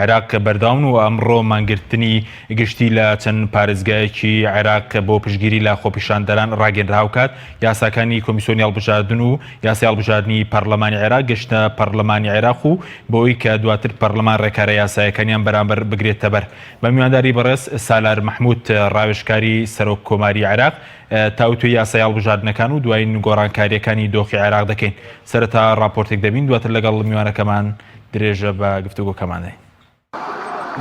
عێراق کە بەردەوام و ئەمڕۆ مانگرتنی گشتی لە چەند پارێزگایەکی عێراق کە بۆ پشتگیری لە خۆپیشاندەران ڕاگەنرا هاوکات یاساکانی کۆمیسۆنی هەڵبژاردن و یاسای هەڵبژاردنی پەڕلەمانی عێراق گەشتە پەڕلەمانی عێراق و بەوەی کە دواتر پەڕلەمان ڕێکارە یاسایەکانیان بەرامبەر بگرێتەبەر بە میوانداری بەڕێز سالار مەحمود ڕاوێژکاری سەرۆک کۆماری عێراق تاوتوێ یاسای هەڵبژاردنەکان و دوایین گۆڕانکاریەکانی دۆخی عێراق دەکەین سەرەتا ڕاپۆرتێک دەبین دواتر لەگەڵ میوانەکەمان درێژە بە گفتوگۆکەمان دەین.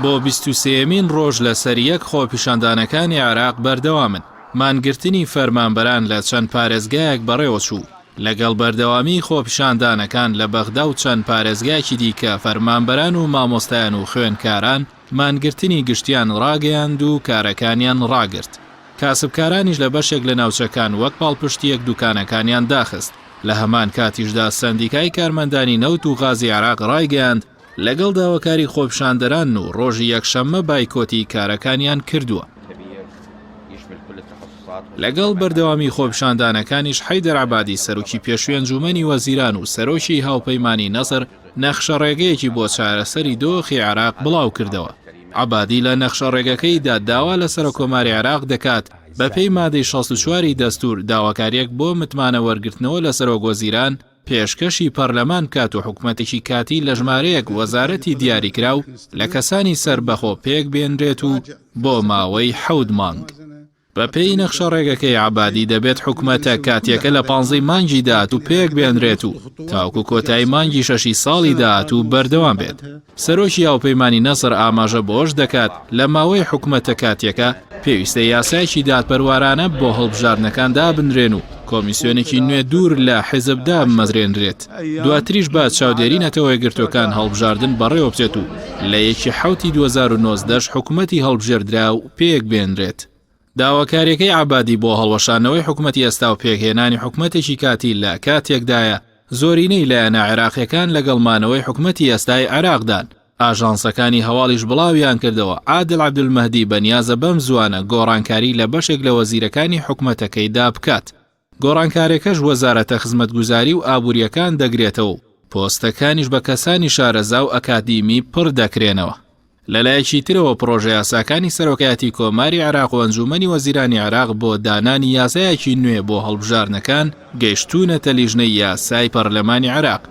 بۆ بیست و سێیەمین ڕۆژ لەسەر یەک خۆپیشاندانەکانی عێراق بەردەوامن، مانگرتنی فەرمانبەران لە چەند پارێزگایەک بەڕێوەچوو، لەگەڵ بەردەوامیی خۆپیشاندانەکان لە بەغدا و چەند پارێزگایەکی دیکە فەرمانبەران و مامۆستایان و خوێندکاران، مانگرتنی گشتیان ڕاگەیاند و کارەکانیان ڕاگرت، کاسبکارانیش لە بەشێک لە ناوچەکان وەک پاڵپشتییەک دوکانەکانیان داخست، لە هەمان کاتیشدا سەندیکای کارمەندانی نەوت و غازی عێراق ڕایگەیاند، لەگەڵ داواکاری خۆپیشاندەران و ڕۆژی یەکشەممە بایکۆتی کارەکانیان کردووە. لەگەڵ بەردەوامی خۆپیشاندانەکانیش حەیدەر عەبادی سەرۆکی پێشوی ئەنجومەنی وەزیران و سەرۆکی هاوپەیمانی نەسر، نەخشەڕێگەیەکی بۆ چارەسەری دۆخی عێراق بڵاوکردەوە. عەبادی لە نەخشەڕێگەکەیدا داوا لە سەرۆککۆماری عێراق دەکات بەپێی مادەی شەست و چوار ی دەستوور داواکارییەک بۆ متمانە وەرگرتنەوە لە سەرۆکوەزیران پێشکەشی پەرلەمان بکات و حکومەتێکی کاتی لە ژمارەیەک وەزارەتی دیاریکراو لە کەسانی سەربەخۆ پێکبێنرێت و بۆ ماوەی حەوت مانگ بەپێی نەخشە ڕێگەکەی عەبادی دەبێت حکومەتە کاتیەکە لە پانزەی مانگی داهاتوو پێک بێنرێت و تاوەکو کۆتایی مانگی شەشی ساڵی داهاتوو بەردەوام بێت. سەرۆکی هاوپەیمانی نەسر ئاماژە بەوەش دەکات، لە ماوەی حکومەتە کاتیەکە پێویستە یاسایەکی دادپەروارانە بۆ هەڵبژاردنەکان دابنرێن و کۆمیسیۆنێکی نوێ دوور لە حیزب دابمەزرێنرێت، دواتریش بە چاودێری نەتەوە یەکگرتووەکان هەڵبژاردن بەڕێوەبچێت و لە یەکی حەوتی دوو هەزار و نۆزدە ش حکومەتی هەڵبژێردراو پێک بێنرێت. داواکاریەکەی عەبادی بۆ هەڵوەشاندنەوەی حکومەتی ئێستا و پێکهێنانی حکومەتێکی کاتی لە کاتێکدایە زۆرینەی لایەنە عێراقیەکان لەگەڵ مانەوەی حکومەتی ئێستای عێراقدان. ئاژانسەکانی هەواڵیش بڵاویانکردەوە، عادل عەبدولمەهدی بەنیازە بەم زووانە گۆڕانکاری لە بەشێک لە وەزیرەکانی حکومەتەکەیدا بکات. گۆڕانکارێکەش وەزارەتە خزمەتگوزاری و ئابوریەکان دەگرێتەوە و پۆستەکانیش بە کەسانی شارەزا و ئەکادیمی پڕ دەکرێنەوە. لەلایەکی ترەوە پڕۆژەیاساکانی سەرۆکایەتی کۆماری عێراق و ئەنجومەنی وەزیرانی عێراق بۆ دانانی یاسایەکی نوێ بۆ هەڵبژاردنەکان گەیشتوونەتە لیژنەی یاسای پەرلەمانی عێراق.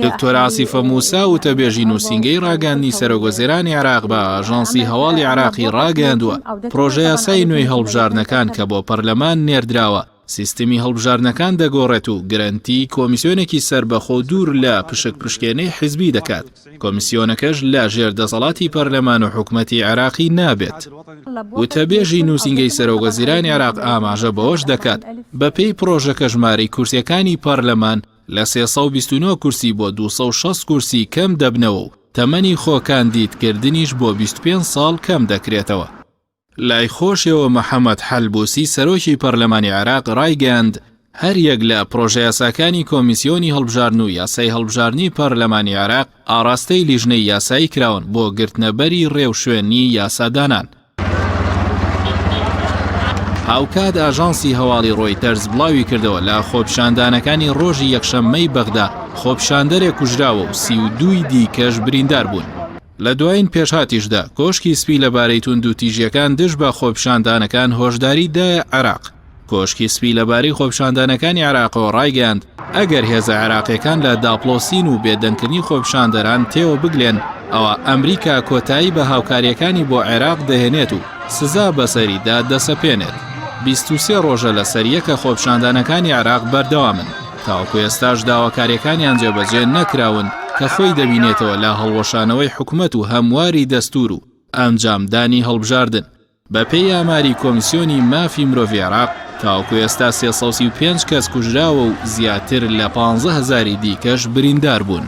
دکتۆر عاسیفە موسا وتەبێژی نووسینگەی ڕاگەاندنی سەرۆکوەزێرانی عێراق بە ئاژانسی هەواڵی عێراقی ڕاگەیاندووە، پڕۆژە یاسای نوێی هەڵبژاردنەکان کە بۆ پەرلەمان نێردراوە، سیستمی هەڵبژاردنەکان دەگۆڕێت و گرەنتی کۆمیسیۆنێکی سەربەخۆ و دوور لە پشکپشکێنەی حزبی دەکات. کۆمیسیۆنەکەش لە ژێر دەسەڵاتی پەرلەمان و حکومەتی عێراقی نابێت. وتەبێژی نووسینگەی سەرۆکوەزیرانی عێراق ئاماژە بەوەش دەکات، بەپێی پڕۆژەکە ژمارەی کورسییەکانی پەرلەمان لە سێ سەد و بیست و نۆ کورسی بۆ دوو سەد و شەست کورسی کەم دەبنەوە و تەمەنی خۆکاندیدکردنیش بۆ بیست و پێنج ساڵ کەم دەکرێتەوە. لای خۆشیەوە محەمەد حەلبوسی سەرۆکی پەرلەمانی عێراق رایگەیاند، هەریەک لە پرۆژەیاساکانی کۆمیسیۆنی هەڵبژاردن و یاسای هەڵبژاردنی پەرلەمانی عێراق ئاڕاستەی لیژنەی یاسایی کراون بۆ گرتنەبەری رێوشوێنی یاسادانان. هاوکات ئاژانسی هەواڵی رۆیتەرز بڵاویکردەوە، لە خۆپیشاندانەکانی رۆژی یەکشەممەی بەغدا خۆپیشاندەرێک کوژراوە و سی و دووی دیکەش برینداربوون. لە دوایین پێشهاتیشدا، کۆشکی سپی لەبارەی توندوتیژییەکان دژ بە خۆپیشاندانەکان هۆشداریی دایە عێراق. کۆشکی سپی لەبارەی خۆپیشاندانەکانی عێراقەوە ڕایگەیاند، ئەگەر هێزە عێراقییەکان لە داپڵۆسین و بێدەنگکردنی خۆپیشاندەران تێوە بگلێن، ئەوا ئەمریکا کۆتایی بە هاوکارییەکانی بۆ عێراق دەهێنێت و سزا بەسەریدا دەسەپێنێت. بیست و سێ ڕۆژە لەسەریەکە خۆپیشاندانەکانی عێراق بەردەوامن. تاوەکو ئێستاش داواکاریەکانیان جێبەجێ نەکراون کە خۆی دەبینێتەوە لە هەڵوەشانەوەی حکومەت و هەمواری دەستور و ئەنجامدانی هەڵبژاردن. بە پێی ئاماری کۆمسیۆنی مافی مرۆڤی عێراق، تاوەکو ئێستا سێ سەد و سی و پێنج کەس کوژراوە و زیاتر لە پانزە هەزاری دیکەش بریندار بوون.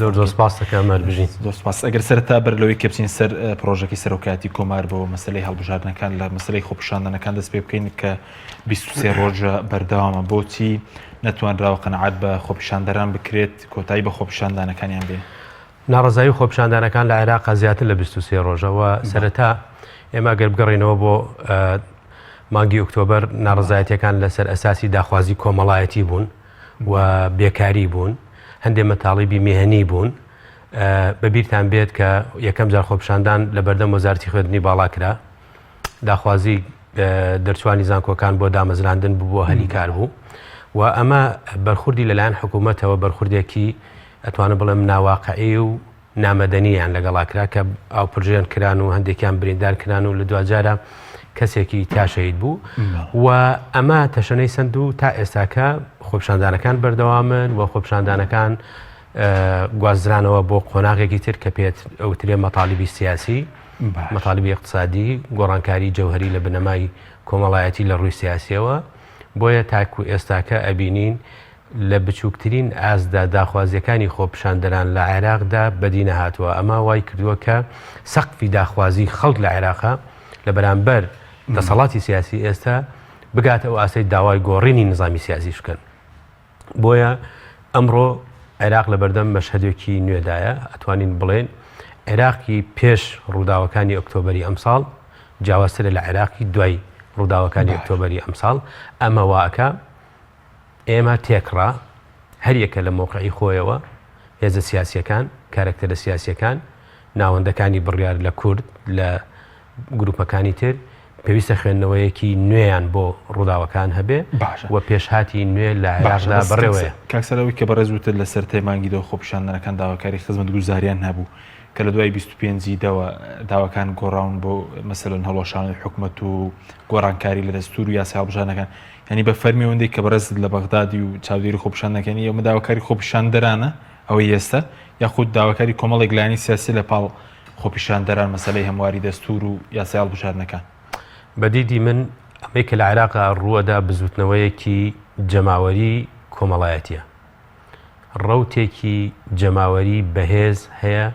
زۆر زۆر سپاس دەکەم هەربژین. زۆر سپاس. ئەگەر سەرەتا بەر لەوەی کە بچین سەر پرۆژەکەی سەرۆکایەتی کۆمار بۆ مەسەلەی هەڵبژاردنەکان لە مەسەلەی خۆپیشاندانەکان دەست پێ بکەین کە 23 ڕۆژە بەردەوامە بۆچی نەتوانراوە قەنەعات بە خۆپیشاندەران بکرێت کۆتایی بە خۆپیشاندانەکانیان بێ؟ ناڕەزایی و خۆپیشاندانەکان لە عێراقا زیاتر لە 23 ڕۆژە و سەرەتا ئێمە گەر بگەڕینەوە بۆ مانگی ئۆکتۆبەر ناڕەزایەتیەکان لەسەر ئەساسی داخوازی کۆمەڵایەتی بوون و بێکاری بوون، هەندێ مەتاڵیبی مێهنی بوون، بە بیرتان بێت کە یەکەم جار خۆپیشاندان لە بەردەم وەزارەتی خوێندنی باڵا کرا، داخوازی دەرچووانی زانکۆکان بۆ دامەزراندن ببووە هەلی کار بوو و ئەمە بەرخوردی لەلایەن حکوومەتەوە بەرخوردێکی ئەتوانم بڵێم ناواقعی و نامەدەنی یان لەگەڵا کرا کە ئاوپرژێن کران و هەندێکیان بریندار کران و لە دواجارە کەسێکی تیا شەید بوو و ئەمە تەشەنەی سند و تا ئێستاکە خۆپشاندانەکان بەردەوامن و خۆپشاندانەکان گوازرانەوە بۆ قۆناغێکی تر کە پێت ئەوترێ مەتالیبی سیاسی مەتالیبی اقتصادی گۆڕانکاری جەوهری لە بنەمای کۆمەڵایەتی لە ڕووی سیاسیەوە بۆیە تاکو ئێستاکە ئەبینین لە بچووکترین ئاستدا داخوازییەکانی خۆپیشاندەران لە عێراقدا بەدی نەهاتووە، ئەمە وای کردووە کە سەقفی داخوازیی خەڵک لە عێراق لە بەرامبەر دەسەڵاتی سیاسیی ئێستا بگاتە ئەو ئاستەی داوای گۆڕینی نیزامی سیاسیش بکەن. بۆیە ئەمڕۆ عێراق لە بەردەم مەشهەدێکی نوێدایە، ئەتوانین بڵێین عێراقی پێش ڕووداوەکانی ئۆکتۆبەری ئەمساڵ جیاوازترە لە عێراقی دوای ڕووداوەکانی ئۆکتۆبەری ئەمساڵ، ئەمە وا ئەکا، ئێمە تێکڕا، هەریەکە لە مەوقعی خۆیەوە، هێزە سیاسییەکان، کارەکتەرە سیاسییەکان، ناوەندەکانی بڕیار لە کورد، لە گروپەکانی تر، پێویستە خوێندنەوەیەکی نوێیان بۆ ڕووداوەکان هەبێ و پێشهاتی نوێ لە عێراقدا بەڕێوەیە. کاک سەرار ئەوەی کە بەڕێز وتت لە سەرەتای مانگی دە خۆپیشاندەرەکان داواکاری خزمەتگوزارییان هەبوو کە لە دوای بیست و پێنج ی دە وە داواکان گۆڕاون بۆ مەسەلەن هەڵوەشانەوەی حکومەت و گۆڕانکاری لە دەستوور و یاسای هەڵبژاردنەکان، یانی بە فەرمی ئەوەندەی کە بەڕێزت لە بەغدادی و چاودێری خۆپیشان دەکەنی، ئەمە داواکاری خۆپیشاندەرانە ئەوەی ئێستە، یاخود داواکاری کۆمەڵێک لایەنی سیاسی لە پاڵ خۆپیشاندەران مەسەلەی هەمواری دەستوور و یاسای هەڵبژاردنەکان؟ بە دیدی من ئەمەی کە لە عێراقا ڕووەدا بزووتنەوەیەکی جەماوەری کۆمەڵایەتیە. ڕەوتێکی جەماوەری بەهێز هەیە،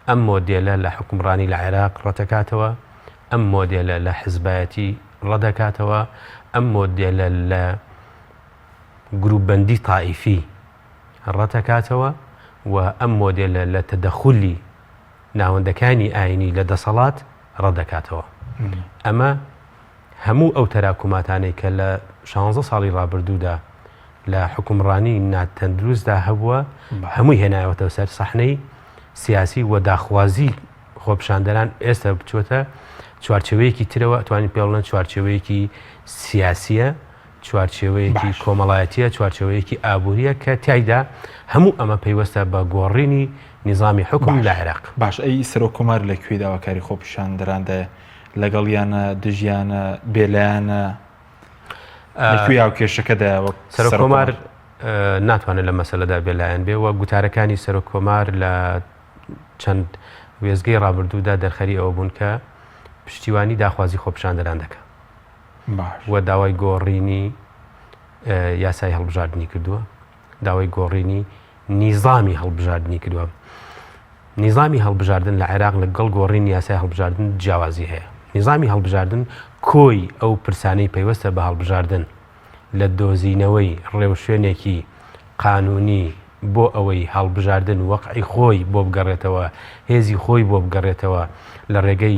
ئەم مۆدێلە لە حوکمڕانی لە عێراق ڕەتەکاتەوە، ئەم مۆدێلە لە حزبایەتی ڕەدەکاتەوە، ئەم مۆدێلە لە گروپبەندی تائیفی ڕەتەکاتەوە و ئەم مۆدێلە لە تەدەخولی ناوەندەکانی ئاینی لە دەسەڵات ڕەتدەکاتەوە. ئەمە هەموو ئەو تەراکوماتانەی کە لە شانزە ساڵی ڕابردوودا لە حکومڕانی ناتەندروستدا هەبووە هەمووی هێنایەوەتەوە سەر سەحنەی سیاسی و داخوازی خۆپشاندەران ئێستا بچووەتە چوارچەوەیەکی ترەوە توانین پێڵنە چوارچەوەیەکی سیاسیە چوارچێوەیەکی کۆمەڵایەتییە، چوارچێوەیەکی ئابوورییە کە تیایدا هەموو ئەمە پەیوەستە بە گۆڕینی نیزامی حوکم لە عێراق. باش ئەی سەرۆک کۆمار لە کوێی داواکاری خۆپیشاندەراندایە؟ لەگەڵیانە؟ دژیانە؟ بێلایەنە؟ لە کوێ هاوکێشەکە دایە وەک سەرۆک کۆمار؟ ناتوانێت لەم مەسەلەدا بێلایەن بێ و گوتارەکانی سەرۆک کۆمار لە چەند وێستگەی ڕابردوودا دەرخەری ئەوە بوون کە پشتیوانی داخوازی خۆپیشاندەران دەکا. و داوای گۆڕینی یاسای هەڵبژاردنی کردووە داوای گۆڕینی نیزامی هەڵبژاردنی کردووە نیزامی هەڵبژاردن لە عێراق لە گەڵ گۆڕین یاسای هەڵبژاردن جیاوازی هەیە نیزامی هەڵبژاردن کۆی ئەو پرسانەی پەیوەستە بە هەڵبژاردن لە دۆزینەوەی ڕێوشوێنێکی قانونی بۆ ئەوەی هەڵبژاردن وەقعی خۆی بۆ بگەڕێتەوە هێزی خۆی بۆ بگەڕێتەوە لە ڕێگەی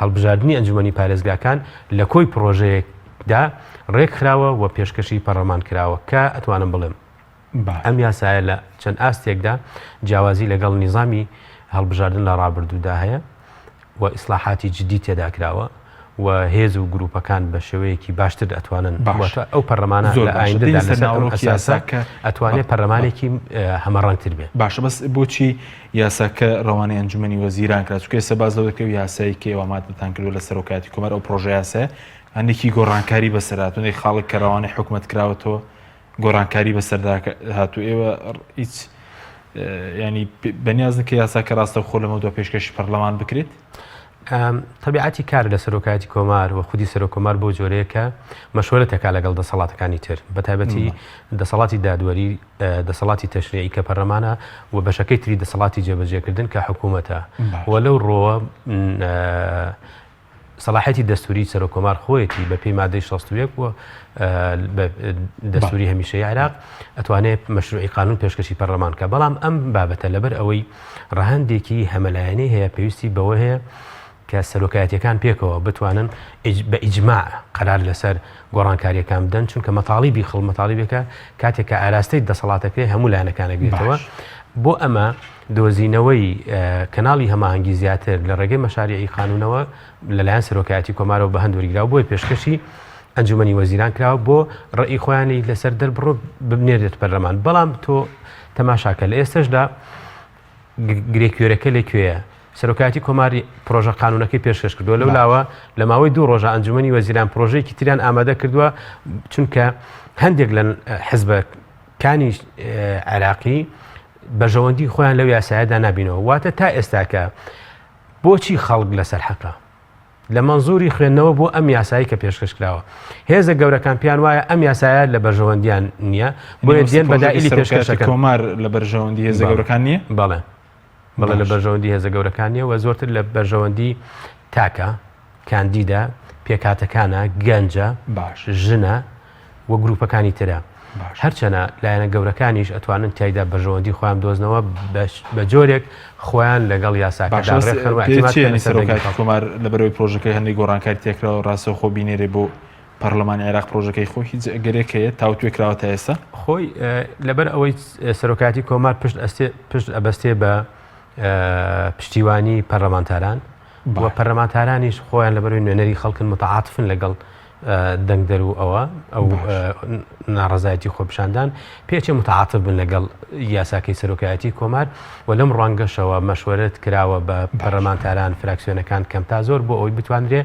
هەڵبژاردنی ئەنجومەنی پارێزگاکان لە کۆی پڕۆژەیەک دا ڕێکخراوە و پێشکەشی پەڕڵەمان کراوە کە ئەتوانم بڵێم ئەم یاسایە لە چەند ئاستێکدا جیاوازی لەگەڵ نیزامی هەڵبژاردن لە ڕابردوودا هەیە و ئیسلاحاتی جدی تێدا کراوە و هێز و گروپەکان بە شێوەیەکی باشتر ئەتوانن باشە ئەو پەرلەمانە زۆر ئەتوانێت پەرلەمانێکی هەمە ڕەنگتر بێ باشە بەس بۆچی یاساکە رەوانەی ئەنجومەنی وەزیران کرا، چونکە ئێستا باس لەوە دەکرێت یاسای کەی ئەوە ماددەتان کردووە لە سەرۆکایەتی کۆمار، ئەو پرۆژەیاسایە هەندێکی گۆڕانکاری بەسەردا هاتوون، ئەی خاڵێک کە رەوانەی حکومەت کراوەتەوە گۆڕانکاری بەسەردا هاتوو، ئێوە هیچ ینی بەنیازن کە یاساکە راستەوخۆ لەمە دو پێشکەشی پەرلەمان بکرێت؟ تەبیعەتی کار لە سەرۆکایەتی کۆمار و خودی سەرۆکۆمار بۆ جۆرەیەکە مەشوەرە تەکا لەگەڵ دەسەڵاتەکانی تر بە تایبەتی دەسەڵاتی دادوەری دەسەڵاتی تەشریعی کە پەرلەمانە و بەشەکەی تری دەسەڵاتی جێبەجێکردن کە حکوومەتە و لەو ڕۆوە سەڵاحەتی دەستوری سەرۆک کۆمار خۆیەتی بە پێی مادەی 16 و دەستوری هەمیشەی عراق ئەتوانێت مەشروعی قانون پێشکەشی پەرلەمان کە بەڵام ئەم بابەتە لەبەر ئەوەی ڕەهندێکی هەمەلایەنەی هەیە پێویستی بەوە هەیە کە سەرۆکایەتیەکان پێکەوە بتوانن بە ئیجماع قەرار لەسەر گۆڕانکاریەکان بدەن چونکە مەتاڵیبی خڵ مەتاڵیبێکە کاتێک کە ئاراستەی دەسەڵاتەکەی هەموو لایەنەکانەگرێتەوە بۆ ئەمە دۆزینەوەی کەناڵی هەماهنگگی زیاتر لە ڕێگەی مەشاریعی قانونەوە لەلایەن سەرۆکایەتی کۆمارەوە بە هەندوەریرا بۆی پێشکەشی ئەنجومی وەزیران کراوە بۆ ڕێی خۆیانی لەسەر دەربڕۆ ببنێرێت پەرلەمان بەڵام تۆ تەماشاکە لە ئێستشدا گرێ کوێرەکە لە کوێیە سەرۆکاتی کۆماری پرۆژە قانونەکەی پێشکەش کردووە لەو لاوە لە ماوەی دوو ڕۆژە ئەنجومی وەزیران پرۆژێکی تریان ئامادە کردووە چونکە هەندێک لە حزبە کانی عێراقی بەژەوەندی خۆیان لەو یاسایەدا نبینەوە واتە تا ئێستاکە بۆچی خەڵک لەسەر حەقە لە مەنزوری خوێندنەوە بۆ ئەم یاسایی کە پێشکەش کراوە هێزە گەورەکان پیان وایە ئەم یاسایە لە بەرژەوەندیان نییە بۆ دێن بەدائلی پێشکەشەکە کۆمار لە بەرژەوەندی هێزە گەورەکان نییە بەڵێ بەڵێ لە بەرژەوەندی هێزە گەورەکان نیە وە زۆرتر لە بەرژەوەندی تاکە کاندیدا پێکاتەکانە گەنجە باش ژنە و گروپەکانی ترە هەرچەنە لایەنە گەورەکانیش ئەتوانن تایدا بەژەوەندی خۆیان دۆزنەوە بە جۆرێک خۆیان لەگەڵ یاساکەمار لە بەرەوەی پرۆژەکەی هەندی گۆڕانکاری تێکراوە ڕاستە خۆ بینێرێ بۆ پەرلەمان عێراق پرۆژەکەی خۆ هیچ ئەگەرێک هەیە تاوتێ کراوە تا ئێستا خۆی لەبەر ئەوەی سەرۆکاتی کۆمار پشت ئەستێ پشت ئەبەستێ بە پشتیوانی پەرلەمانتاران بۆ پەرلەمانتارانیش خۆیان لەبەروی نوێنەری خەڵکن متعاعاتفن لەگەڵ دەنگ دەر و ئەوە ئەو ناڕزایەتی خۆپشاندان پێچێ متعاعاتف بن لەگەڵ یاساکەی سەرۆکایەتی کۆمار و لەم ڕوانگەشەوە مەشوەرت کراوە بە پەرلەمانتاران فراکسیۆنەکان کەم تا زۆر بۆ ئەوی بتواندرێ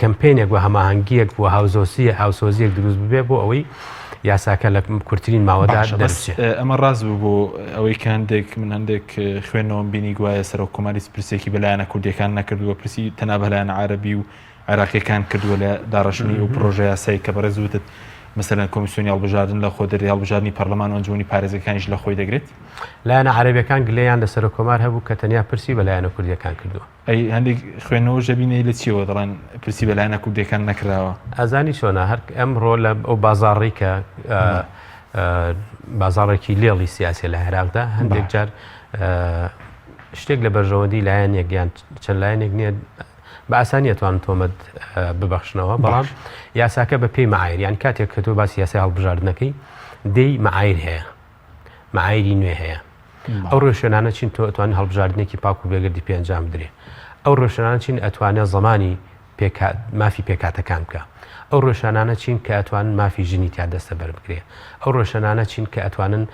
کەمپینێک و هەماهنگگیەک بۆ هاوزۆسی هاوسۆزیەک دروست ببێ بۆ ئەوەی یاساکە لە کورتترین ماوەدا ئەمە ڕاز بوو بۆ ئەوەی کاندێک من هەندێک خوێنەوەم بینی گوایە سەرۆک کۆماری پرسێکی بەلایەنە کوردیەکان نەکردووە پرسی تەنابلایەن عربی و عێراقییەکان کردووە لە داڕشتنی ئەو پرۆژە یاسایی کە بەڕێز وتت مەسەرەن کۆمیسیۆنی هەڵبژاردن لە خۆ دەری هەڵبژاردننی پەرلەمان و ئەنجومی پارێزەکانیش لە خۆی دەگرێت لایەنە عربیەکان گلەیان لە سەر کۆمار هەبوو کە تەنیا پرسی بە لایەنە کوردیەکان کردووە ئەی هەندێک خوێنەوە ژەبینەی لە چیەوە دەڵێن پرسی بە لایەنە کوردەکان نەکراوە ئازانی چۆنا هەر ئەمڕۆ لە ئەو بازاڕی کە بازاڕێکی لێڵی سیاسی لە عێراقدا هەندێک جار شتێک لە بەرژەوەندی لایەنێک یان چەند لایەنێک نییە بە ئاسانی ئەتوانن تۆمەت ببەخشنەوە، بەڵام یاساکە بە پێی مەعایر یان کاتێک کە تۆ باسی یاسای هەڵبژاردنەکەی دێی مەعایر هەیە، مەعایری نوێ هەیە. ئەو ڕێوشوێنانە چین تۆ ئەتوانین هەڵبژاردنێکی پاک و بێگەردی پێ ئەنجام بدرێ. ئەو ڕێوشوێنانە چین ئەتوانێ زمانی مافی پێکهاتەکان بکا. ئەو ڕێوشوێنانە چین کە ئەتوانن مافی ژنی تیا دەستەبەر بکرێ. ئەو ڕێوشوێنانە چین کە ئەتوانن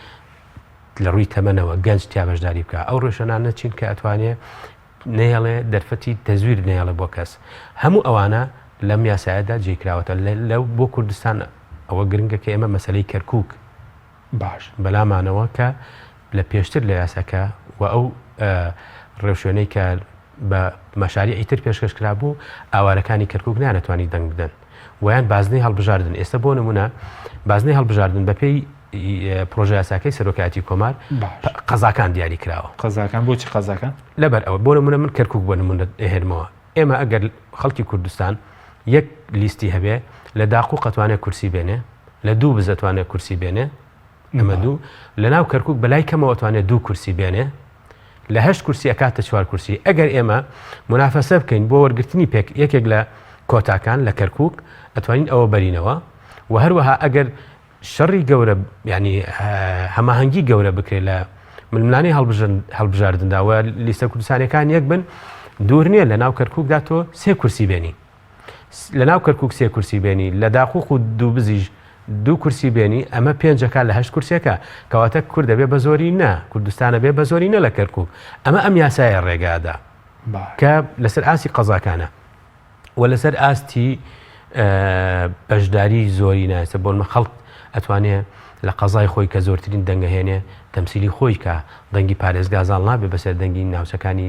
لە ڕووی تەمەنەوە گەنج تیا بەشداری بکا. ئەو ڕێوشوێنانە چین کە ئەتوانێ نەیەڵێ دەرفەتی تەزویر نەیەڵێ بۆ کەس هەموو ئەوانە لەم یاسایەدا جێ کراوەتە لە بۆ کوردستان ئەوە گرنگە کە ئێمە مەسلەی کەرکک باش بەلامانەوە کە لە پێشتر لە یاساکە و ئەو ڕێوشوێنەی کە بە مەشاریعی تر پێشکەش کرابوو ئاوارەکانی کەرکک نانەتوانی دەنگ بدەن وەیان بازنەی هەڵبژاردن ئێستا بۆ نمونە بازنەی هەڵبژاردن بەپێی پرۆژیاساکەی سەرۆکایەتی کۆمار قەزاکان دیاری کراوە قەزاکان بۆچی قەزاکان لەبەر ئەوە بۆ نمونە من کەرکک بۆ نمونە هێنمەوە ئێمە ئەگەر خەڵکی کوردستان یەک لیستی هەبێ لە داقو قەتوانێت کورسی بێنێ لە دوو بزەتوانێت کورسی بێنێ نمرە دوو، لەناو کەرکوک بەلای کەمەوە ئەتوانێت دوو کورسی بێنێ، لە هەشت کورسی ئەکاتە چوار کورسی، ئەگەر ئێمە مونافەسە بکەین بۆ وەرگرتنی پێک یەکێک لە کۆتاکان لە کەرکوک ئەتوانین ئەوە بەرینەوە و هەروەها ئەگەر شەڕی گەورە یانی هەماهەنگی گەورە بکرێت لە ململانەی هەڵبژاردندا و لیستە کوردستانەکان یەک بن دوور نییە لە ناو کەرکوکدا تۆ سێ کورسی بێنی. لەناو کەرکوک سێ کورسی بێنی لە داقوق و دووبزیش دوو کورسی بێنی ئەمە پێنجەکە لە هەشت کورسەکە کەواتە کورد دەبێ بە زۆری نە کوردستانە بێ بە زۆری نە لە کەرکک ئەمە ئەم یاسایە ڕێگادا کە لەسەر ئاسی قەزاکانە و لەسەر ئاستی بەشداری زۆری نایسە بۆنمە خەڵک ئەتوانێ لە قەزای خۆی کە زۆرترین دەنگەهێنێ تەمسیلی خۆی کە دەنگی پارێزگازان نابێ بەسەر دەنگی ناوچەکانی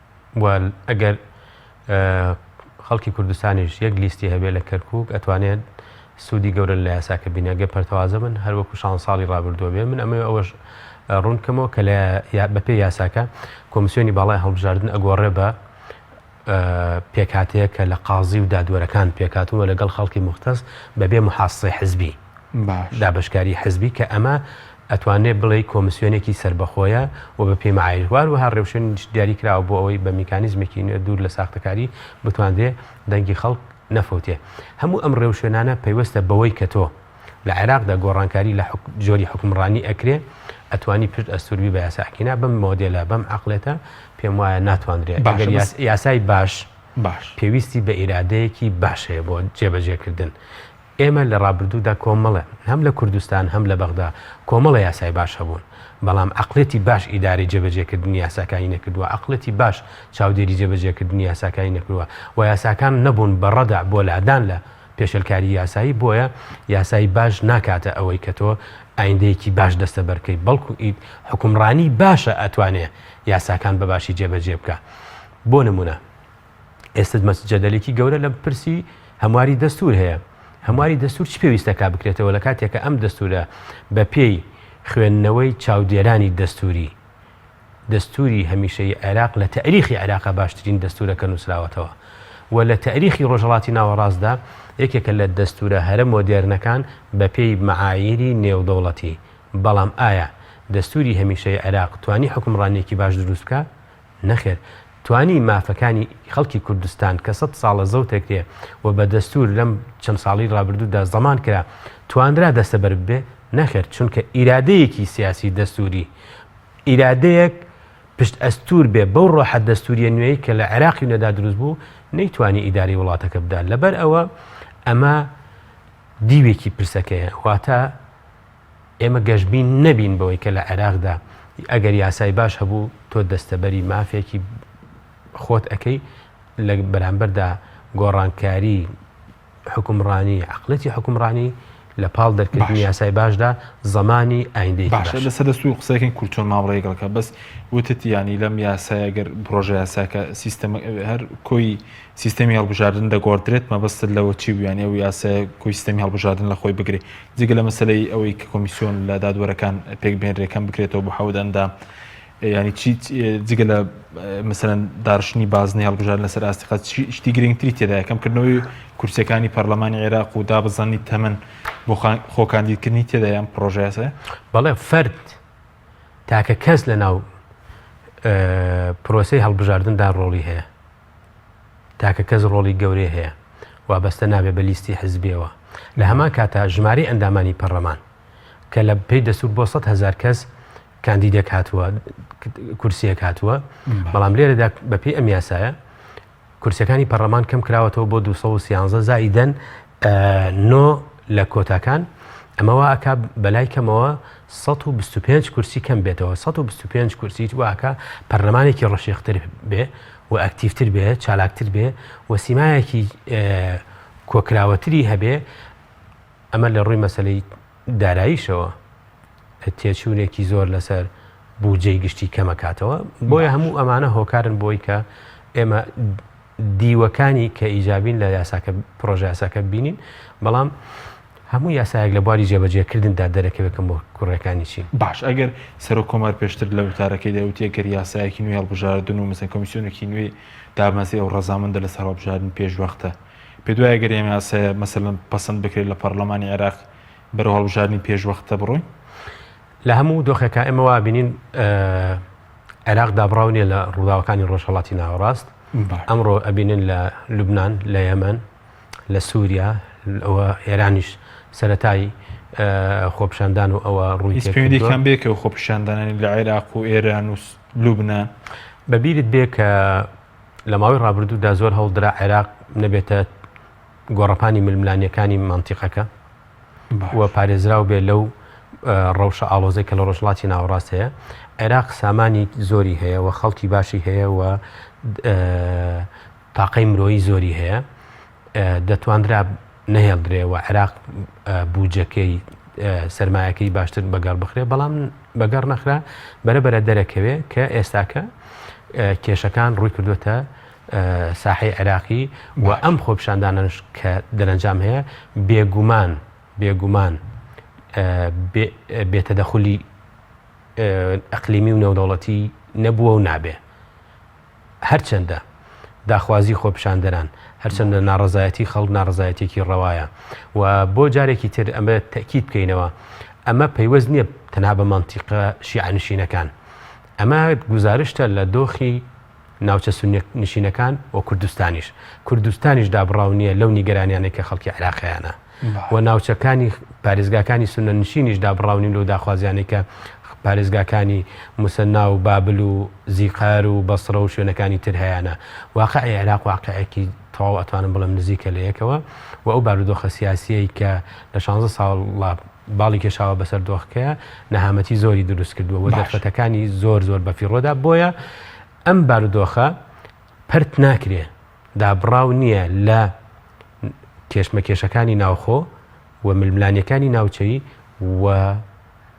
و ئەگەر خەڵکی کوردستانیش یەک لیستی هەبێ لە کەرکک ئەتوانێت سوودی گەورن لە یاساکە بینە گە پەرتەوازە من هەروەکو شان ساڵی ڕابردووە بێ من ئەمە ئەوەش ڕوونکەمەوە کە لە بەپێ یاساکە کۆمسیۆنی باڵای هەڵبژاردن ئەگۆڕێ بە پێکاتەیە کە لە قازی و دادوەرەکان پێکاتوە لەگەڵ خەڵکی مختەس بەبێ محاسی حزبی دابەشکاری حزبی کە ئەمە ئەتوانرێت بڵێی کۆمسیۆنێکی سەربەخۆیە و بە پێی مەعایش وار وەها ڕێوشێنیش دیاری کراوە بۆ ئەوەی بە میکانیزمێکی نوێ دوور لە ساختەکاری بتواندرێ دەنگی خەڵک نەفەوتێ هەموو ئەم ڕێوشێنانە پەیوەستە بەوەی کە تۆ لە عێراقدا گۆڕانکاری لە جۆری حکومڕانی ئەکرێ ئەتوانی پشت ئەستوربی بە یاساکینا بەم مۆدێلە بەم عقلێتە پێم وایە ناتواندرێت بەگەر یاسای باش باش پێویستی بە ئیرادەیەکی باش هەیە بۆ جێبەجێکردن ئێمە لە ڕابردوودا کۆمەڵێ، هەم لە کوردستان هەم لە بەغدا، کۆمەڵێ یاسای باش هەبوون، بەڵام عەقڵێتی باش ئیدارەی جێبەجێکردنی یاساکانی نەکردووە، عەقڵێتی باش چاودێری جێبەجێکردنی یاساکانی نەکردووە و یاساکان نەبوون بە ڕەدع بۆ لادان لە پێشێلکاری یاسایی، بۆیە یاسای باش ناکاتە ئەوەی کە تۆ ئایندەیەکی باش دەستەبەر بکەیت، بەڵکو ئید حوکمڕانی باشە ئەتوانێ یاساکان بە باشی جێبەجێ بکا. بۆ نموونە. ئێستا جەدەلێکی گەورە لەم پرسی هەمواری دەستور هەیە هەمواری دەستور چ پێویستەکە بکرێتەوە لە کاتێکە ئەم دەستورە بە پێی خوێندنەوەی چاودێرانی دەستوری دەستوری هەمیشەی عێراق لە تاریخی عێراقا باشترین دەستورەکە نووسراوەتەوە و لە تاریخی ڕۆژهڵاتی ناوەڕاستدا یەکێکە لە دەستورە هەرە مۆدێرنەکان بە پێی معایری نێودەوڵەتی بەڵام ئایا دەستوری هەمیشەی عێراق توانی حکمڕانێکی باش دروست بکە نەخێر توانی مافەکانی خەڵکی کوردستان کە سەد ساڵە زەوتەکرێ و بە دەستور لەم چەند ساڵی ڕابردوودا زەمان کرا توانرا دەستەبەر بێ نەخێر چونکە ئیرادەیەکی سیاسی دەستوری ئیرادەیەک پشت ئەستور بێ بەو ڕۆحە دەستوریە نوێی کە لە عێراقی و نەدا دروست بوو نەیتوانی ئیداری وڵاتەکە بدا لەبەر ئەوە ئەمە دیوێکی پرسەکەیە واتە ئێمە گەشبین نەبین بەوەی کە لە عێراقدا ئەگەر یاسای باش هەبوو تۆ دەستەبەری مافێکی خۆت ئەەکەی لە بەرامبەردا گۆڕانکاری حکومڕانی عقلەتی حکومڕانی لە پاڵ دەرکردنی یاسای باشدا زمانی ئایندەی باشە لەسەر دەست و قسەکەن کورتۆن مامڕێگەڵکە بەس وتت ینی لەم یاسایەگەر پرۆژە یاساکە سیستەمە هەر کۆی سیستەمی هەڵبژاردن دەگۆڕدرێت مەبەستت لەوە چی بوو یانی ئەو یاسایە کۆی سیستەمی هەڵبژاردن لە خۆی بگرێ جگە لە مەسلەی ئەوەی کە کۆمیسیۆن لە دادوەرەکان پێک بهێنرێ کەم بکرێتەوە بۆ حەوت ئەندام ینی چی جگە لە مثلەن دارشتنی بازنی هەڵبژار لەسەر ئاستیقا شتی گرنگتری تێدا یەکەمکردنەوەی کورسەکانی پەرلەمانی عێراق و دابزانانی تەمەن بۆ خۆکاندیدکردنی تێدا یان پرۆژەیاسە بەڵێ فرد تاکە کەس لە ناو پرۆسی هەڵبژاردندا ڕۆڵی هەیە تاکە کەس ڕۆڵی گەورەی هەیە، وابەستە نابێت بە لیستی حزبییەوە. لە هەمان کاتدا ژمارەی ئەندامانی پەڕلەمان، کە لە پێی دەستوور بۆ سەد هەزار کەس کاندیدێک هاتووە، کورسییەک هاتووە، بەڵام لێرەدا بەپێی ئەم یاسایە کورسییەکانی پەڕلەمان کەم کراوەتەوە بۆ دوو سەد و سیانزە زائیدەن نۆ لە کۆتاکان، ئەمە وا ئەکا بەلای کەمەوە سەد و بیست و پێنج کورسی کەم بێتەوە، سەد و بیست و پێنج کورسیت وا ئەکا پەرلەمانێکی ڕەشێختر بێ و ئەکتیڤتر بێ، چالاکتر بێ و سیمایەکی کۆکراوەتری هەبێ، ئەمە لە ڕووی مەسەلەی داراییشەوە تێچوونێکی زۆر لەسەر بودجەی گشتی کەمەکاتەوە، بۆیە هەموو ئەمانە هۆکارن بۆی کە ئێمە دیوەکانی کە ئیجابین لە یاساکە پرۆژە یاساکە بینین بەڵام هەموو یاسایەک لە بواری جێبەجێکردندا دەرەکەوێت کە کوڕەکانی چین باش ئەگەر سەرۆک کۆمار پێشتر لە وتارەکەی دەوتی ئەگەر یاسایەکی نوێ هەڵبژاردن و مەسەن کۆمیسیۆنێکی نوێی دامەزرێ و ڕەزامەندە لەسەر هەڵبژاردن پێشوەختە پێ دوای ئەگەر ئێمە یاسایە مەسەن پەسەند بکرێت لە پەرلەمانی عێراق بەرەو هەڵبژاردنی پێشوەختە بڕۆین لە هەموو دۆخێکا ئێمە وا بینین عێراق دابڕاو نیە لە ڕووداوەکانی ڕۆژهەڵاتی ناوەڕاست ئەمڕۆ ئەبینن لە لوبناان لە یەمەن لە سووریا ئەوە ئێرانیش سەتایی خۆپشاندان و ئەوە ڕووی پێویدیکان بێکە و خۆپشاندانانی لە عێراق و ئێران و لوبنە بەبیرت بێ کە لە ماوەی ڕابردوودا زۆر هەڵدرا عێراق نەبێتە گۆڕەپانی ململانیەکانی مانتیقەکە و پارێزراو بێت لەو ڕەوشە ئاڵۆزەی کە لە ڕۆژهەڵاتی ناوەڕاست هەیە عێراق سامانی زۆری هەیە و خەڵکی باشی هەیە و تاقەی مرۆیی زۆری هەیە دەتواندرا نەهێڵدرێ و عێراق بوجەکەی سرمایەکەی باشتر بەگەڕ بخرێ بەڵام بەگەڕ نەخرا بەرەبەرە دەرەکەوێ کە ئێستاکە کێشەکان ڕووی کردوێتە ساحەی عێراقی و ئەم خۆپیشاندانانەش کە دەرەنجام هەیە بێ گومان بێ گومان بێتەدەخلی ئەقلیمی و نێودەوڵەتی نەبووە و نابێ هەرچەندە داخوازی خۆپیشاندەران هەرچەندە ناڕزایەتی خەڵ ناڕزایەتێکی ڕەوایە و بۆ جارێکی تر ئەمە تەکیید بکەینەوە ئەمە پەیوەست نییە تەنها بە مانتیقە شیعە نشینەکان ئەمە گوزارشتە لە دۆخی ناوچە سوننە نشینەکان و کوردستانیش کوردستانیش دابڕاو نییە لەو نیگەرانیانەی کە خەڵکی عراقیانە و ناوچەکانی پارێزگاکانی سونە نشینیش دابڕاونی لەو داخوازیانەی کە پارێزگاکانی مسەنا و بابل و زیقار و بەسرە و شوێنەکانی تر هەیەە واقع عێراق واقعێکی تەواو ئەتوانم بڵم نزیکە لە یەکەوە و ئەو بارودۆخە سیاسیەی کە لە 16 ساڵ باڵی کێشاوە بەسەر دۆخکەیە نەهامەتی زۆری دروست کردووە و دەرفەتەکانی زۆر زۆر بەفیڕۆدا بۆیە ئەم بارودۆخە پەرت ناکرێ دابڕاو نییە لە کێشمەکێشەکانی ناوخۆ و ململانیەکانی ناوچەی و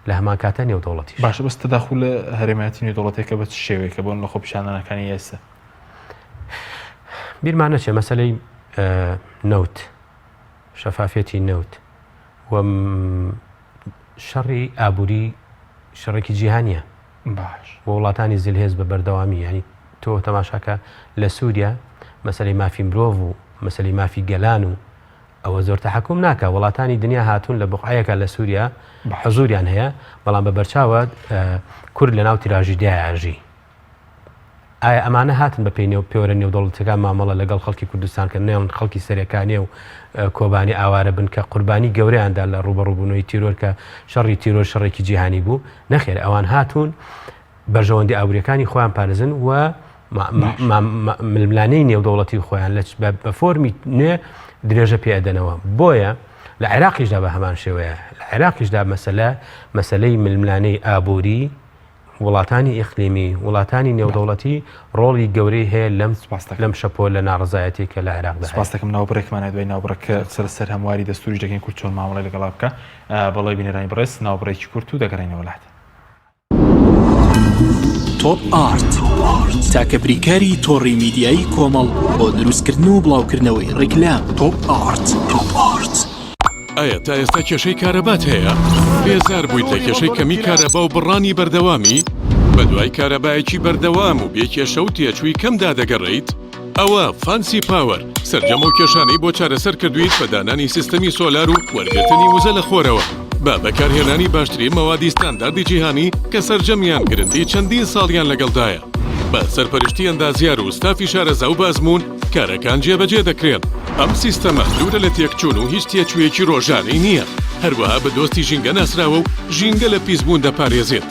لە هەمان کاتە نێودەوڵەتی باشە بەس تەداخل لە هەرێمایەتی نێودەوڵەتێکە بە شێوەیەکە بۆن لە خۆ پیشانانەکانی ئێستا بیرمانە چێ مەسلەی نەوت شەفافەتی نەوت و شەڕی ئابووری شەڕێکی جیهانیە باش و وڵاتانی زلهێز بە بەردەوامی یانی تۆ تەماشا کە لە سوریا مەسەلەی مافی مرۆڤ و مەسەلەی مافی گەلان و ئەوە زۆر تەحەکوم ناکا وڵاتانی دنیا هاتوون لە بقعەیەکە لە سوریا حەزوریان هەیە بەڵام بە بەرچاوە کورد لە ناو تراژیدایە ئەژی. ئایا ئەمانە هاتن بە پێی نێو پێوەرە نێودەوڵەتیەکان مامەڵە لە گەڵ خەڵکی کوردستان کەن نەیەڵن خەڵکی سەرێکانێ و کۆبانی ئاوارە بن کە قوربانی گەورەیان دا لە ڕوبەڕوبونەوەی تیرۆر کە شەڕی تیرۆر شەڕێکی جیهانی بوو نەخێر ئەوان هاتون بەرژەوەندی ئابوریەکانی خۆیان پارزن و ململانێی نێودەوڵەتی خۆیان لە بە فۆرمی نوێ درێژە پێدەنەوە بۆیە لە عێراقیشدا بە هەمان شێوەیە لە عێراقیشدا مەسەلە مەسلەی ململانەی ئابووری وڵاتانی ئیقلیمی، وڵاتانی نێودەوڵەتی ڕۆڵی گەورەی هەیە لەم لەم شەپۆلە ناڕەزایەتیە کە لە عێراقدا هەیە. سپاس دەکەم ناوبڕێکمانە دوای ناوبڕێک کە قسە لەسەر هەمواری دەستووریش دەکەین کورد چۆن مامەڵەی لەگەڵا بکا بەڵی بینەرانی بەڕێز ناوبڕێکی کورت و دەگەڕێنەوە لات. تۆپ ئارت تاکە بریکاری تۆڕی میدیایی کۆمەڵ بۆ دروستکردن و بڵاوکردنەوەی ڕیکلام تۆپ ئارت تۆپ ئارت. ئایا تا ئێستا کێشەی کارەبات هەیە؟ بێزار بوویت لە کێشەی کەمی کارەبا و بڕانی بەردەوامی؟ بە دوای کارەبایەکی بەردەوام و بێ کێشە و تێچووی کەمدا دەگەڕێیت؟ ئەوا فانسی پاوەر سەرجەم ئەو کێشانەی بۆ چارەسەر کردوویت بە دانانی سیستەمی سۆلار و وەرگرتنی وزە لە خۆرەوە بە بەکارهێنانی باشترین مەوادی ستانداردی جیهانی کە سەرجەمیان گرنتی چەندین ساڵیان لەگەڵدایە. بە سەرپەرشتی ئەندازیار و ستافی شارەزا و بە ئەزموون، کارەکان جێبەجێ دەکرێن. ئەم سیستەمە دوورە لە تێکچوون و هیچ تێچوویەکی ڕۆژانەی نییە، هەروەها بە دۆستی ژینگە ناسراوە و ژینگە لە پیسبوون دەپارێزێت.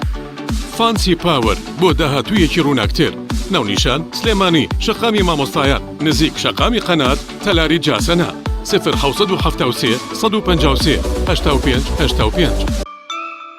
فانسی پاوەر بۆ داهاتوویەکی ڕووناکتر. ناونیشان، سلێمانی، شەقامی مامۆستایان، نزیک شەقامی قەنات، تەلاری جاسەنە. سفر حەوت سەد و حەفتا و سێ سەد و پەنجا و سێ هەشتا و پێنج هەشتا و پێنج.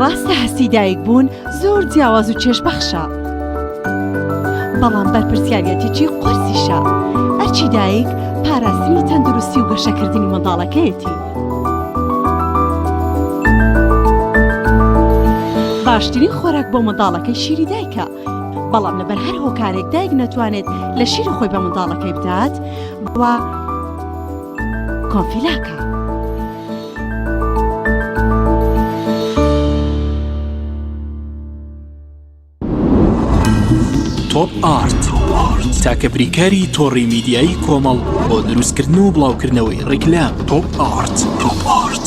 ڕاستە هەستی دایک بوون زۆر جیاواز و چێژ بەخشە بەڵام بەرپرسیارەتێکی قورسیشە ئەرچی دایک پاراستنی تەندروستی و گەشەکردنی منداڵەکەیەتی باشترین خۆراک بۆ منداڵەکەی شیری دایکە بەڵام لەبەر هەر هۆکارێک دایک نەتوانێت لە شیری خۆی بە منداڵەکەی بدات و کۆفیلاکە. تۆپ ئارت تاکە بریکاری تۆڕی میدیایی کۆمەڵ بۆ دروستکردن و بڵاوکردنەوەی ڕیکلام تۆپ ئارت تۆپ ئارت.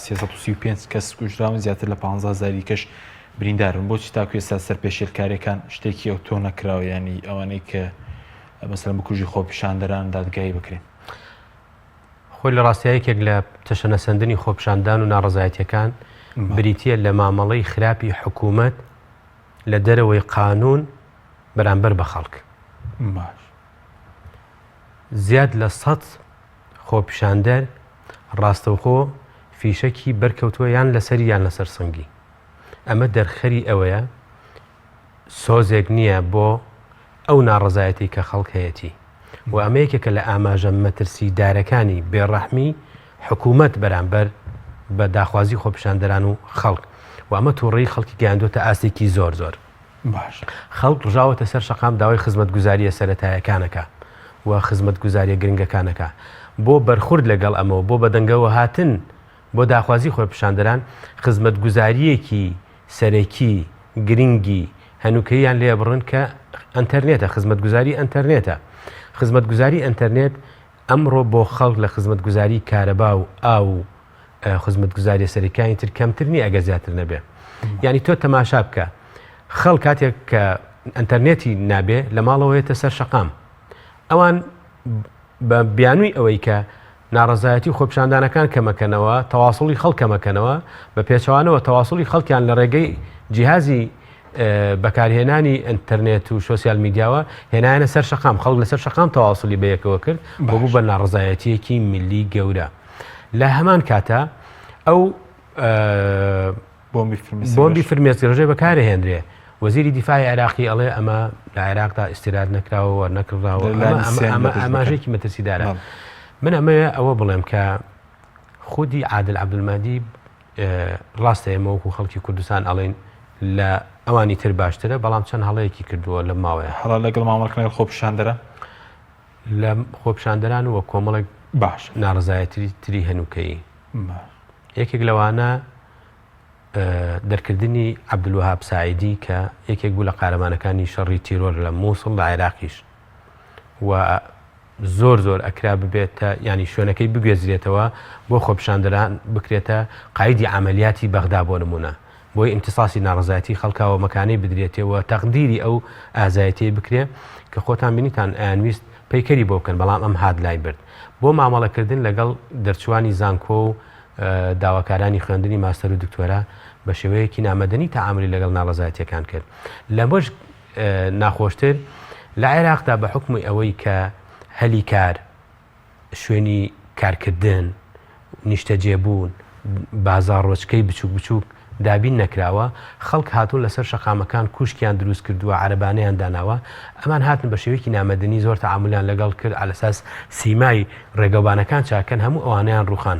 سێ سەد و سی و پێنج کەس کوژراون، زیاتر لە پانزە هەزار دیکەش برینداربوون، بۆچی تاکو ئێستا سەر پێشێلکارێکان شتێکی ئەوتۆ نەکراوە یانی ئەوانەی کە مەسەلەن بکوژی خۆپیشاندەران دادگایی بکرێن؟ خۆی لە ڕاستیا یەکێک لە تەشەنەسەندنی خۆپیشاندان و ناڕەزایەتیەکان بریتیە لە مامەڵەی خراپی حکومەت لە دەرەوەی قانون بەرامبەر بە خەڵک. زیاد لە سەد خۆپیشاندەر ڕاستەوخۆ فیشەکی بەرکەوتووە یان لەسەری یان لەسەر سنگی ئەمە دەرخەری ئەوەیە سۆزێک نییە بۆ ئەو ناڕزایەتی کە خەڵک هەیەتی و ئەمە یەکێکە لە ئاماژە مەترسی دارەکانی بێڕەحمی حکوومەت بەرامبەر بە داخوازی خۆپیشاندەران و خەڵک و ئەمە تووڕی خەڵکی گەیاندوتە ئاستێکی زۆر زۆر باش. خەڵک ڕژاوەتە سەر شەقام داوای خزمەتگوزارییە سەرەتایەکانەکە و خزمەتگوزارییە گرنگەکانەکە. بۆ بەرخورد لەگەڵ ئەمەوە بۆ بەدەنگەوە هاتن بۆ داخوازی خۆپیشاندەران خزمەتگوزارییەکی سەرەکی گرنگی هەنوکەییان لێبڕن کە ئەنتەرنێتە، خزمەتگوزاری ئەنتەرنێتە. خزمەتگوزاری ئەنتەرنێت. ئەمڕۆ بۆ خەڵک لە خزمەتگوزاری کارەبا و ئاو و خزمەتگوزاریە سەرەکیانی تر کەمتر نیە ئەگەر زیاتر نەبێ یعنی تۆ تەماشا بکە خەڵ کاتێک کە ئەتەرنێتی نابێ لە ماڵەوەیەتە سەر شەقام ئەوان بە بیانووی ئەوەی کە ناڕزایەتی خۆپشاندانەکان کەمەکەنەوە تەواصلی خەڵکەمەکەنەوە بە پێچوانەوە تەواصلی خەڵکیان لە ڕێگەی جیهازی بەکارهێنانی ئەتەرنێت و سوسیال میدیاوە هێنایانە سەر شقام خەڵک لەسەر شقام تەواصلی بەیەکەوە کرد بۆ بوو بە ناڕزایەتیەکی ملی گەورە لە هەمان کاتە ئەو بۆمبی فرمێستی ڕژێ بەکارە هێنرێ وەزیری دیفاعی عراقی ئەڵێ ئەمە لە عێراقدا ئیسرات نەکراوە نەکرداوە ئەماژێکی مەترسیدارە من ئەمەیە ئەوە بڵێم کە خودی عادل عبدمادی ڕاستە ئێمە وەکو خەڵکی کوردستان ئەڵێین لە ئەوانی تر باشترە بەڵام چەند هەڵەیەکی کردووە لە ماوەیە هەڵە لەگەڵ مامەڵکەنەگەڵ خۆپیشاندەرە لە خۆپیشاندەران وە کۆمەڵێک باش ناڕزایەتری تری هەنووکەی یەکێک لەوانە دەرکردنی عبدلوهاب سعیدی کە یەکێک بوو لە قارەمانەکانی شەڕی تیرۆر لە مووسڵ لە عێراقیش و زۆر زۆر ئەکرا ببێتە یانی شوێنەکەی بگوێزرێتەوە بۆ خۆپیشاندەران بکرێتە قایدی عەمەلیاتی بەغدا بۆ نموونە بۆی ئیمتیساسی ناڕەزایەتی خەڵکا و مەکانەی بدرێتێ و تەقدیری ئەو ئازایەتیەی بکرێ کە خۆتان بینیتان ئەیانویست پەیکەری بۆ بکەن بەڵام ئەم هات لای برد بۆ مامەڵەکردن لەگەڵ دەرچووانی زانکۆ و داواکارانی خوێندنی ماستەر و دکتۆرا بە شێوەیەکی نامەدەنی تەعامولی لەگەڵ ناڕەزایەتیەکان کرد لەمەش ناخۆشتر لە عێراقدا بە حوکمی ئەوەی کە هەلی کار، شوێنی کارکردن، نیشتەجێبوون، بازاڕۆچکەی بچووک بچووک دابین نەکراوە، خەڵک هاتوون لەسەر شەقامەکان کوشکیان دروست کردووە، عەرەبانەیان داناوە، ئەمان هاتن بە شێوەیەکی نامەدەنی زۆر تەعامولیان لەگەڵ کرد، عەلەساس سیمای ڕێگەوبانەکان چاککەن، هەموو ئەوانەیان ڕووخان.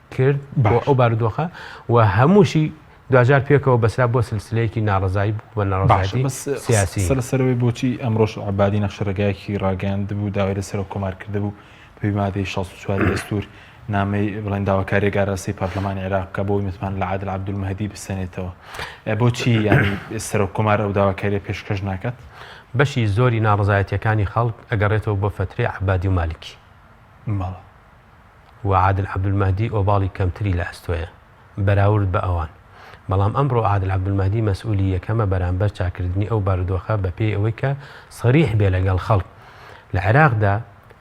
کرد بۆ ئەو بارودۆخە و هەمووشی دواجار پێکەوە بەسرا بۆ سلسلەیەکی ناڕزایی بوو بە ناڕزایی سیاسی سەر سەرەوەی بۆچی ئەمڕۆژ عبادی نەخشە ڕێگایەکی ڕاگەیاند بوو داوای لە سەرۆک کۆمار کرد بوو پێی مادەی 16 دەستور نامەی بڵێن داواکاری گاراسی پەرلەمانی عێراق بکە بۆی متمان لە عادل عبدول مەهدی بسەنێتەوە بۆچی یانی سەرۆک کۆمار ئەو داواکاری پێشکەش ناکات بەشی زۆری ناڕزایەتەکانی خەڵک ئەگەڕێتەوە بۆ فتری عبادی و مالکی ماڵە و عادل عەبدولمەهدی ئۆباڵی کەمتری لە ئەستۆیە بەراورد بە ئەوان، بەڵام ئەمڕۆ عادل عەبدولمەهدی مەسئولی یەکەمە بەرامبەر چاککردنی ئەو بارودۆخە بە پێی ئەوەی کە سەریح بێ لەگەڵ خەڵک لە عێراقدا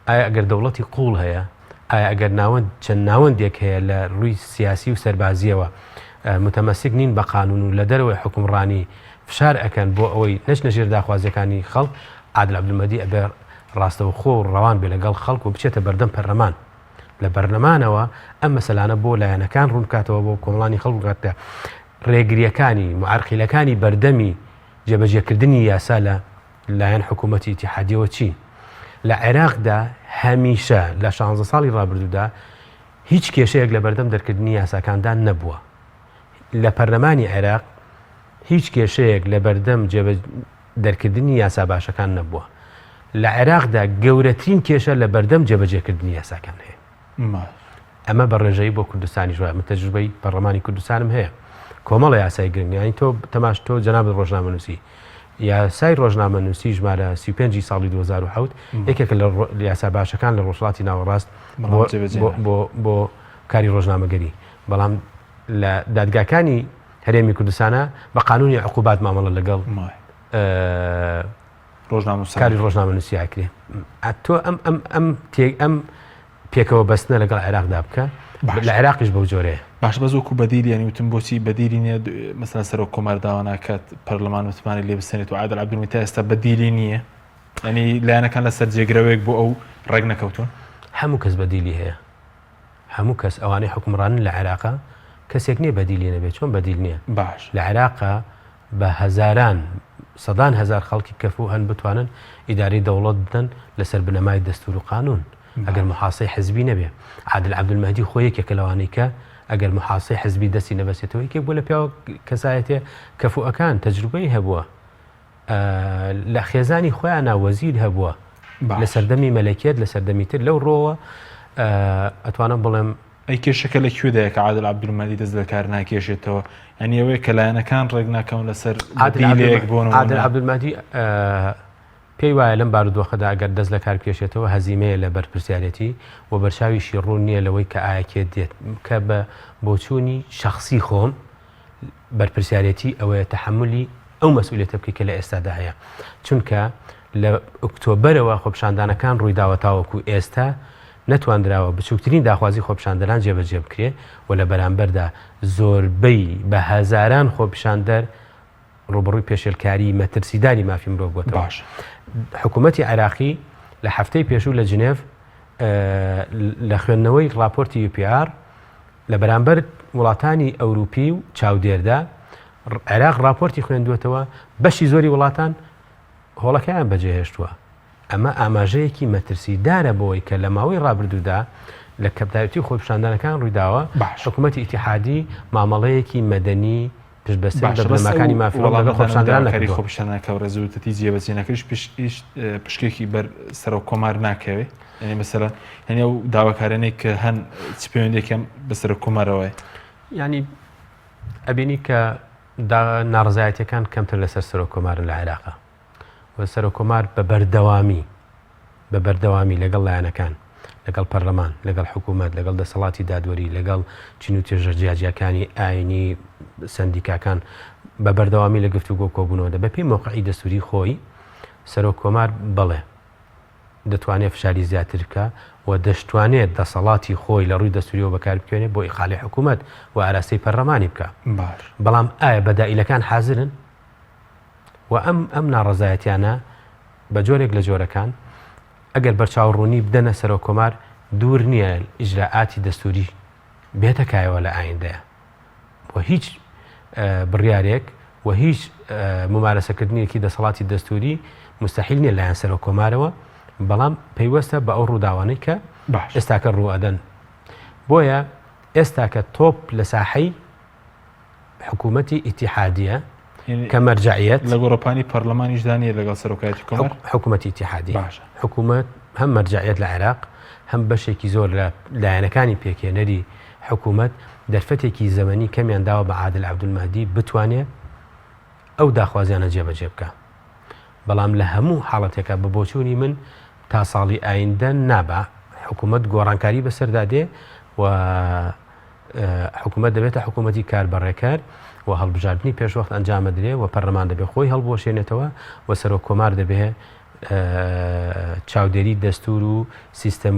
ئایا ئەگەر دەوڵەتی قوڵ هەیە ئایا ئەگەر ناوەند چەند ناوەندێک هەیە لە ڕووی سیاسی و سەربازیەوە متەمەسک نین بە قانون و لە دەرەوەی حکومڕانی فشار ئەکەن بۆ ئەوەی نەچنە ژێر داخوازیەکانی خەڵک عادل عەبدولمەهدی ئەبێ ڕاستەوخۆ و ڕەوان بێ لەگەڵ خەڵک و بچێتە بەردەم پەرلەمان لە بەرلەمانەوە ئەم مەسەلانە بۆ لایەنەکان ڕوون بکاتەوە بۆ کۆمەڵانی خەڵک بگاتە ڕێگریەکانی معەرقیلەکانی بەردەمی جێبەجێکردنی یاسا لە لایەن حکوومەتی ئیتیحادیەوە چی لە عێراقدا هەمیشە لە 16 ساڵی ڕابردوودا هیچ کێشەیەک لە بەردەم دەرکردنی یاساکاندا نەبووە لە پەرلەمانی عێراق هیچ کێشەیەک لە بەردەم جێبە دەرکردنی یاسا باشەکان نەبووە. لە عێراقدا گەورەترین کێشە لە بەردەم جێبەجێکردنی یاساکان هەیە. ئەمە بە ڕێژەیی بۆ کوردستانیش وایە، من تەجروبەی پەڕڵەمانی کوردستانم هەیە. کۆمەڵە یاسای گرنگ یانی تۆ تەماش تۆ جەنابت ڕۆژنامەنووسی یاسای ڕۆژنامەنووسی ژمارە سی و پێنجی ساڵی دوو هەزار و حەوت یەکێکە لە یاسا باشەکان لە ڕۆژهەڵاتی ناوەڕاست بۆ بۆ کاری ڕۆژنامەگەری بەڵام لە دادگاکانی هەرێمی کوردستانە بە قانونی عقوبات مامەڵە لەگەڵ ڕۆژنامەکاری ڕۆژنامە نووسیاکرێ ئەتۆ ئەم ئەم ئەم تێک ئەم پێکەوە بەستنە لەگەڵ عێراقدا بکە لە عێراقیش بەو جۆرێ باش بەزۆکو بەدیلیانی وتم بۆچی بەدیلی نیە مەسەر سەرۆک کۆمار داواناکات پەرلەمان وتمانی لێ بسێنێت و عادل عبدمی تا ئێستا بەدیلی نییە ئەنی لایەنەکان لەسەر جێگرەوەیەک بۆ ئەو ڕێک نەکەوتون هەموو کەس بەدیلی هەیە هەموو کەس ئەوانەی حوکمڕانن لە عێراقا کەسێک نیە بەدیلی نەبێ چۆن بەدیل نیە باش. لە عێراقا بە هەزاران سەدان هەزار خەڵکی کەفو هەن بتوانن ئیدارەی دەوڵەت بدەن لەسەر بنەمای دەستورو قانون ئەگەر باش. محاسەی حزبی نەبێ عادل عبدالمهدی خۆ یەکێکە لەوانەی کە ئەگەر محاسەی حزبی دەستی نەبەسێتەوە یەکێک بوە لە پیاوە کەسایەتیە کەفوئەکان تەجروبەی هەبوە لە خێزانی خۆیانە وەزیر هەبووە لە سەردەمی مەلەکێت لە سەردەمی تر لەو ڕۆوە ئەتوانم بڵێم ئەی کێشەکە لە کوێدایە کە عادل عبدمەلی دەست لە کار ناکێشێتەوە یعنی ئەوەیە کە لایەنەکان ڕێک ناکەون لەسەر عادلێک بۆن عادل عبدمادی پێی وایە لەم بارودۆخەدا ئەگەر دەست لە کارکێشێتەوە هەزیمەیە لە بەرپرسیارەتی و بەرچاویشی ڕوون نییە لەوەی کە ئاەکێت دێت کە بە بۆچوونی شخصی خۆم بەرپرسیارێتی ئەوەیە تەحەمولی ئەو مەسئولیەتە بکەی کە لە ئێستادا هەیە چونکە لە ئۆکتۆبەرەوە خۆپشاندانەکان ڕوویداوە تاوەکو ئێستا نەتواندراوە بچووکترین داخوازی خۆپشاندەران جێبەجێ بکرێ و لە بەرامبەردا زۆربەی بە هەزاران خۆپشاندەر ڕوبڕووی پێشێلکاری مەترسیداری مافی مرۆڤ بۆتە باش حکوومەتتی عێراقی لە هەفتەی پێشوو لە جنێڤ لە خوێندنەوەی راپۆرتی UPR لە بەرامبەر وڵاتانی ئەوروپی و چاودێردا، عێراق ڕاپۆرتی خوێندووەتەوە، بەشی زۆری وڵاتان هۆڵەکەیان بەجێهێشتووە. ئەمە ئاماژەیەکی مەترسیدارە بەوەی کە لە ماوەی ڕابردوودا لە کەپتایوتی و خۆپیشاندانەکان ڕوویداوە، حکومەتی ئیتیحادی مامەڵەیەکی مەدەنی باشە بەس ئەو وەڵامە دانەمەداواکاری خۆپیشاندانەکە و ڕێزوتەتی جێبەجێنەکەش پشکێکی بەر سەرۆک کۆمار ناکەوێ یعنی مەسەرە هەنێ و داواکارانێک کە هەن چ پەیوەندێکم بە سەرۆک کۆمارەوەی ینی ئەبینی کە ناڕزایەتەکان کەمتر لەسەر سەرۆک کۆمارن لە عێراقا و سەرۆککۆمار بە بەردەوامی بە بەردەوامی لەگەڵ لایەنەکان، لەگەڵ پەرلەمان، لەگەڵ حکوومەت، لەگەڵ دەسەڵاتی دادوەری، لەگەڵ چین و توێژە جیاجیاکانی ئاینی، سەندیکاکان بە بەردەوامی لە گفتوگۆ و کۆبوونەوە دە بەپێی مەوقعی دەستووری خۆی سەرۆککۆمار بەڵێ دەتوانێت فشاری زیاتر بکە و دەشتوانێت دەسەڵاتی خۆی لە ڕووی دەستوریەوە بەکار بکوێنێت بۆ ئیقالی حکوومەت و ئاراستەی پەرلەمانی بکە بەڵام ئایا بەدائیلەکان حازرن و ئەم ئەم ناڕەزایەتیانە بە جۆرێک لە جۆرەکان ئەگەر بەرچاو ڕوونی بدەنە سەرۆک کۆمار دوور نییە ئیجرائاتی دەستوری بێتە کایەوە لە ئایندەیە و هیچ بڕیارێک و هیچ ممارەسەکردنیەکی دەسەڵاتی دەستوری مستحیل نیە لایەن سەرۆک کۆمارەوە بەڵام پەیوەستە بە ئەو ڕووداوانەی کە ئێستاکە ڕوئەدەن بۆیە ئێستاکە تۆپ لە ساحەی حکوومەتی ئیتیحادیە کە مەرجعیەت لە گۆڕەپانی پەرلەمانیشدا نیە لەگەڵ سەرۆکایەتی کۆمار حکوومەتی ئیتیحادی باشە حکوومەت هەم مەرجعیەت لە عێراق هەم بەشێکی زۆر لە لایەنەکانی پێکێنەری حکوومەت دەرفەتێکی زەمەنی کەمیان داوە بە عادل عبدولمادی بتوانێت ئەو داخوازیانە جێبەجێ بکە بەڵام لە هەموو حاڵەتێکە بە بۆچوونی من تا ساڵی ئایندە نابا حکوومەت گۆڕانکاری بەسەردا دێ و حکومەت دەبێتە حکومەتی کاربەڕێکەر و هەڵبژاردننی پێشوەخت ئەنجامەدرێ و پەرلەمان دەبێ خۆی هەڵبوەشێنێتەوە و سەرۆک کۆمار دەبێ چاودێری دەستور و سیستم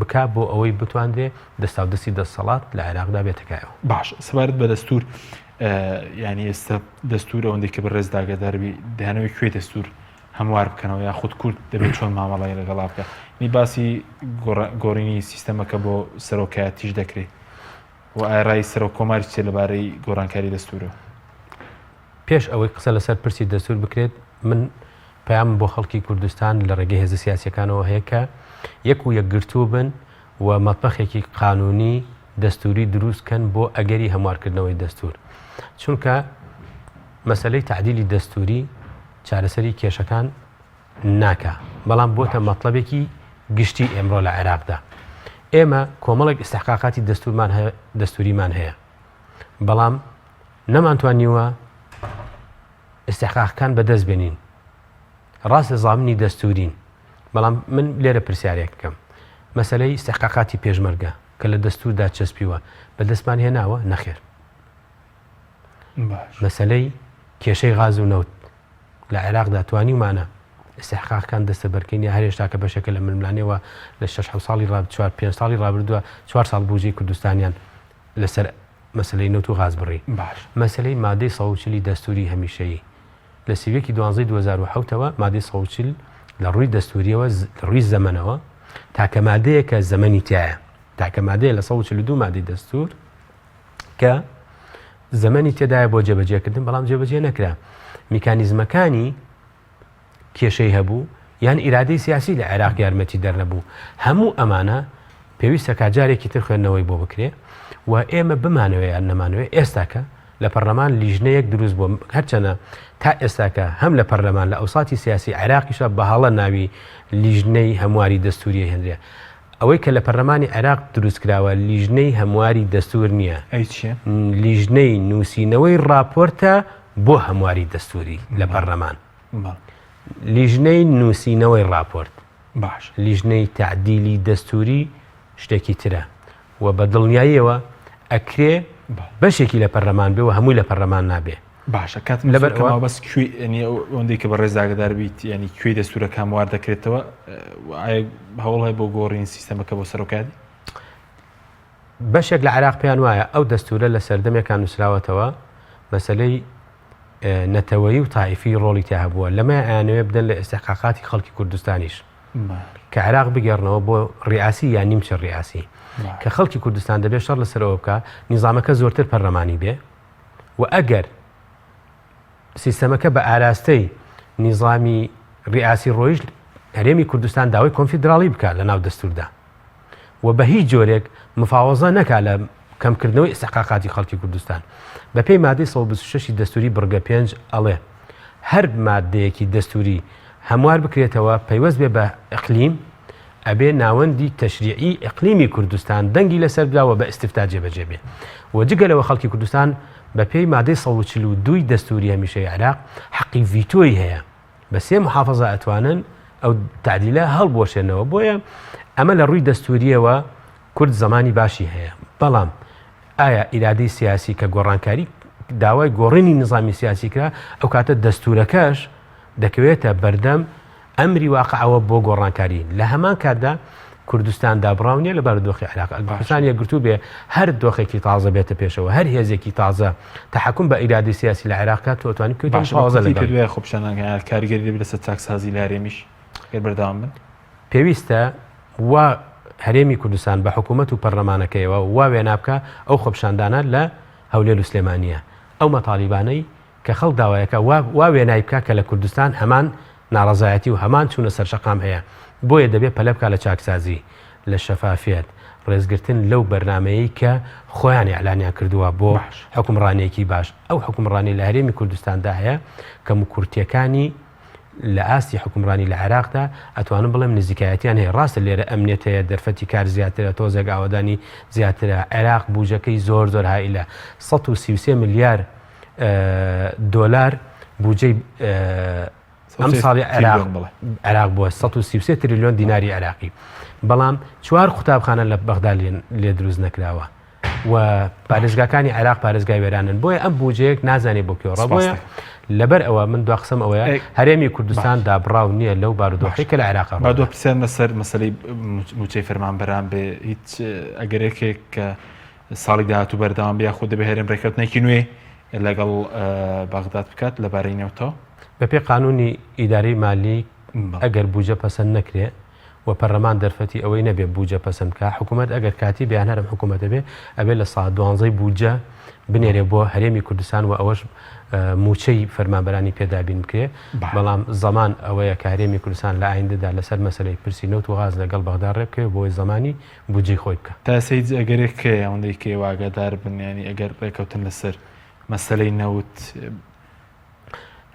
بک بۆ ئەوەی بتواندرێ دەستا و دەستی دەسەڵات لە عێراقدا بێتەکایەوە باش سەبارەت بە دەستور ینی ئێستا دەستور ئەوەندێک کە بە ڕێزداگەداربی دانەوەی کوێ دەستور هەموار بکەنەوە یاخود کورد دەبێت چۆن مامەڵی لەگەڵا بکە نی باسی گۆڕینی سیستەمەکە بۆ سەرۆکایەتیش دەکرێت و ئارای سەرۆک کۆماری چێ لەبارەی گۆرانکاری دەستورە پێش ئەوەی قسە لەسەر پرسی دەستور بکرێت من پام بۆ خەڵکی کوردستان لە ڕێگەی هێزە سیاسەکانەوە هەیە کە یەک و یەکگرتوو بن و مەتبەخێکی قانونی دەستوری دروست کەن بۆ ئەگەری هەموارکردنەوەی دەستور چونکە مەسلەی تعدیلی دەستوری چارەسەری کێشەکان ناکە بەڵام بۆتە مەطلبێکی گشتی ئێمڕۆ لە عێراقدا ئێمە کۆمەڵێک ئستحقاقاتی دەستورمان هەیە دەستوریمان هەیە بەڵام نەمانتوانیوە ئستحقاقەکان بەدەست بێنین ڕاستە زامنی دەستورین بەڵام من لێرە پرسیارێک بکەم مەسلەی استحقاقاتی پێشمەرگە کە لە دەستوردا چەسپیوە بە دەستمان هێناوە نەخێر مەسلەی کێشەی غاز و نەوت لە عێراقدا توانیمانە استحقاقەکان دەستە بەرکەین یا هەرێشتا کە بەشێکە لە ململانەوە لە 6 ساڵی ڕاب 4 پێ ساڵی ڕابردووە 4 ساڵ بوجی کوردستانیان لەسەر مەسلەی نەوت و غاز بڕی باش مەسلەی مادەی سەوچلی دەستوری هەمیشەیی لە سی و یەک ی دوازدەی دوو هەزار و حەوت ەوە مادەی سەد و چل لە ڕووی دەستوورییەوە، لە ڕووی زەمەنەوە تاکە مادەیە کە زەمەنی تیایە، تاکە مادەیە لە سەد و چل و دوو مادەی دەستوور کە زەمەنی تێدایە بۆ جێبەجێکردن، بەڵام جێبەجێ نەکرا. میکانیزمەکانی کێشەی هەبوو یان ئیرادەی سیاسی لە عێراق یارمەتی دەرنەبوو. هەموو ئەمانە پێویستە کاجارێکی تر خوێندنەوەی بۆ بکرێ و ئێمە بمانەوێ یان نەمانەوێ ئێستاکە لە پەرلەمان لیژنەیەک دروست بووە هەرچەنە تا ئێستاکە هەم لە پەرلەمان لە ئەوساتی سیاسی عێراقیشە بەهاڵە ناوی لیژنەی هەمواری دەستوریە هێنرێ ئەوەی کە لە پەرلەمانی عێراق دروستکراوە لیژنەی هەمواری دەستور نییە لیژنەی نووسینەوەی راپۆرتە بۆ هەمواری دەستوری لە پەرلەمان لیژنەی نووسینەوەی راپۆرت باش لیژنەی تعدیلی دەستوری شتێکی ترە و بە دڵنیاییەوە ئەکرێ بەشێکی لە پەرلەمان بێ و هەمووی لە پەرلەمان نابێ باشە کات لەبەر بەس ئەوەندەی کە بە ڕێزداگدار بیت ینی کوێی دەستورە کاموار دەکرێتەوە هەوڵ هەیە بۆ گۆڕین سیستەمەکە بۆ سەرۆکاتی بەشێک لە عراق پێیان وایە ئەو دەستورە لە سەردەمێکان نووسراوەتەوە مەسلەی نەتەوەی و تایفی ڕۆڵی تیا هەبووە لەمە ئەیانەوێ بدەن لە ئێستحقاقاتی خەڵکی کوردستانیش کە عێراق بگێڕنەوە بۆ ریاسی یا نیمچە ریاسی کە خەڵکی کوردستان دەبێت شەڕ لەسەرەوە بکە نیزانامەکە زۆرتر پەرلەمانی بێ و ئەگەر سیستەمەکە بە ئاراستەی نیزامی ریاسی ڕۆیشت هەرێمی کوردستان داوای کۆنفیدراڵی بکە لە ناو دەستوردا و بە هیچ جۆرێک مفاوەزە نەکات لە کەمکردنەوەی ئیستحقاقاتی خەڵکی کوردستان. بەپێی مادەی سەد و بیست و شەش ی دەستووری بڕگە پێنج ئەڵێ، هەر ماددەیەکی دەستووری هەموار بکرێتەوە پەیوەست بێ بە ئیقلیم، ئەبێ ناوەندی تەشریعی ئیقلیمی کوردستان دەنگی لەسەر بدا و بە ئیستیفتا جێبەجێ بێ و جگە لەوە خەڵکی کوردستان بەپێی مادەی سەد و چل و دوو ی دەستووری هەمیشەیی عێراق حەقی ڤیتۆی هەیە. بە سێ محافظە ئەتوانن ئەو تعدیلە هەڵبوەشێنەوە بۆیە ئەمە لە ڕووی دەستوریەوە کورد زمانی باشی هەیە بەڵام ئایا ئیرادی سیاسی کە گۆڕانکاری داوای گۆڕینی نظامی سیاسی کرا ئەو کاتە دەستورەکەش دەکەوێتە بەردەم ئەمری واقعەوە بۆ گۆڕانکاری لە هەمان کاتدا کوردستان دابڕاو نیە لە بارودۆخی عێراق. ئەگەر کوردستان یەکگرتوو بێ هەر دۆخێکی تازە بێتە پێشەوە، هەر هێزێکی تازە تەحەکوم بە ئیرادەی سیاسی لە عێراق بکات، تۆ ئەتوانی بکەویتە باشە مقاوەزە بەکورتی لەگەڵی. پێتوایە خۆپیشاندانەکان یان کاریگەری دەبێت لەسەر چاکسازی لە هەرێمیش گەر بەردەوام بن؟ پێویستە وا هەرێمی کوردستان بە حکوومەت و پەرلەمانەکەیەوە وا وێنا بکا ئەو خۆپیشاندانە لە هەولێر و سلێمانییە ئەو مەتالیبانەی کە خەڵک داوایەکە وا وا وێنای بکا کە لە کوردستان هەمان ناڕەزایەتی و هەمان چوونە سەر شەقام هەیە، بۆیە دەبێ پەلە بکا لە چاکسازی، لە شەفافیەت، ڕێزگرتن لەو بەرنامەیەی کە خۆیان ئیعلانیان کردووە بۆ باش. حوکمڕانیەکی باش. ئەو حوکمڕانیە لە هەرێمی کوردستاندا هەیە کەم و کورتیەکانی لە ئاستی حوکمڕانی لە عێراقدا ئەتوانم بڵێم نزیکایەتیان هەیە، ڕاستە لێرە ئەمنیەت هەیە، دەرفەتی کار زیاترە، تۆزێک ئاوەدانی زیاترە، عێراق بوجەکەی زۆر زۆر هائیلە، سەد و سی و سێ ملیار، دۆلار بودجەی ئەم ساڵی عراق بووە 133 تریلیۆن دیناری عراقی بەڵام چوار قوتابخانە لە بەغدا لێ دروست نەکراوە و پارێزگاکانی عراق پارێزگای وێرانن بۆیە ئەم بوجەیەک نازانێ بۆ کێڕە بۆیە لەبەر ئەوە من دو قسم ئەوەیە هەرێمی کوردستان دابڕاو نییە لەو بارودۆخی کە لە عراق بەدو پرسیارمە سەر مەسلەی موچەی فەرمانبەران بێ هیچ ئەگەرێکێک کە ساڵی داهاتوو بەردەوام بێ یاخود دەبێ هەرێم ڕێککەوتنێکی نوێ لەگەڵ بەغداد بکات لەبارەی نەوتەوە بەپێ قانونی ئیدارەی مالی ئەگەر بوجە پەسەند نەکرێ و پەرلەمان دەرفەتی ئەوەی نەبێ بوجە پەسەند بکە حکوومەت ئەگەر کاتی بیان هەرم حکوومەتە بێ ئەبێ لە سا دوانزەی بوجە بنێرێ بۆ هەرێمی کوردستان و ئەوەش موچەی فەرمانبەرانی پێدابین بکرێ بەڵام زەمان ئەوەیە کە هەرێمی کوردستان لە ئایندەدا لەسەر مەسلەی پرسی نەوت و غاز لەگەڵ بەغدا ڕێبکەوێ بۆی زمانی بودجەی خۆی بکا. تاسە هیچ ئەگەرێک هەیە ئەوەندەی کە ئێوە ئاگادار بن یانی ئەگەر ڕێکەوتن لەسەر مەسەلەی نەوت؟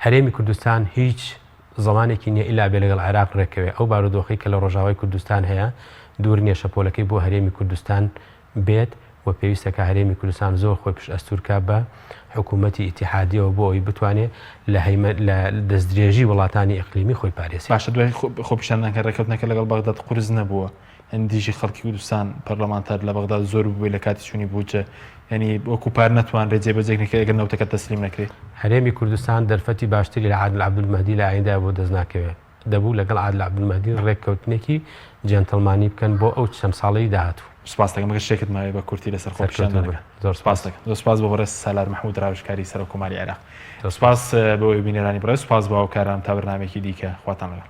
هەرێمی کوردستان هیچ زەمانێکی نیە ئیلا بێ لەگەڵ عێراق ڕێککەوێ، ئەو بارودۆخەی کە لە ڕۆژاوای کوردستان هەیە دوور نیە شەپۆلەکەی بۆ هەرێمی کوردستان بێت و پێویستە کە هەرێمی کوردستان زۆر خۆی پشت ئەستوور کا بە حکوومەتی ئیتیحادیەوە بۆ ئەوەی بتوانێ لە هەیمەن لە دەستدرێژی وڵاتانی ئیقلیمی خۆی پارێزێ. باشە دوای خۆپیشاندان کە ڕێکەوتنەکە لەگەڵ بەغداد قورس نەبووە، دژی خەڵکی کوردستان پەرلەمانتار لە بەغداد زۆر بووی لە کاتی چوونی بودجە یعنی وەکو پار نەتوانرێت جێبەجێ نەکرێت ئەگەر نەوتەکە تەسلیم نەکرێت هەرێمی کوردستان دەرفەتی باشتری لە عادل عەبدولمەهدی لە ئایندای بۆ دەست ناکەوێت دەبوو لەگەڵ عادل عەبدولمەهدی ڕێککەوتنێکی جێنتڵمانی بکەن بۆ ئەو چەند ساڵەی داهاتوو سپاس دەکەم گەر شتێکت ماوێ بە کورتی لەسەر خۆپیشاندانەکە زۆر سپاس دەکەم زۆر سپاس بۆ بەڕێز سالار محمود راوێژکاری سەرۆک کۆماری عێراق سپاس بۆ بینەرانی بڕێز سپاس بۆ هاوکاران تا بەرنامێکی دیکە خواتان لەگەڵ